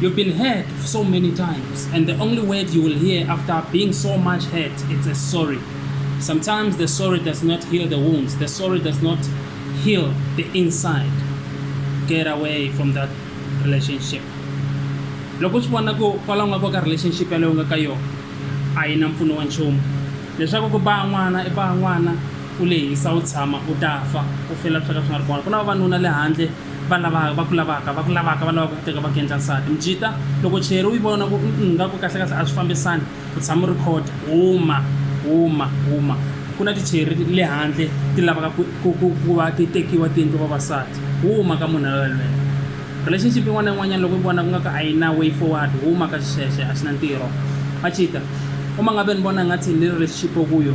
You've been hurt so many times, and the only word you will hear after being so much hurt is a sorry. Sometimes the sorry does not heal the wounds, the sorry does not heal the inside. Get away from that relationship. loko swi vona ku kwalaho nga ko ka relationship yaleyo nga ka yona a yi na mpfuno wa nchumu leswaku ku baa n'wana i baa n'wana u lehisa u tshama u ta fa u fela swi ka swi nga ri kona ku na vavanuna le handle va lava va ku lavaka va ku lavaka va lavaka ku teka va ku endla nsati mjita loko cheri u yi vona ku nga ku kahlekahle a swi fambisani u tshama u ri khoda huma huma huma ku na ticheri le handle ti lavaka ku va ti tekiwa ti endliwa vavasati huma ka munhu loyelweyo relationship yin'wana na yin'wanyana loko yi vona ku nga ka a yi na way forward huma ka xixexe a xi na ntirho a chita uma nga ve ni vona ngathi ni relationship okuyo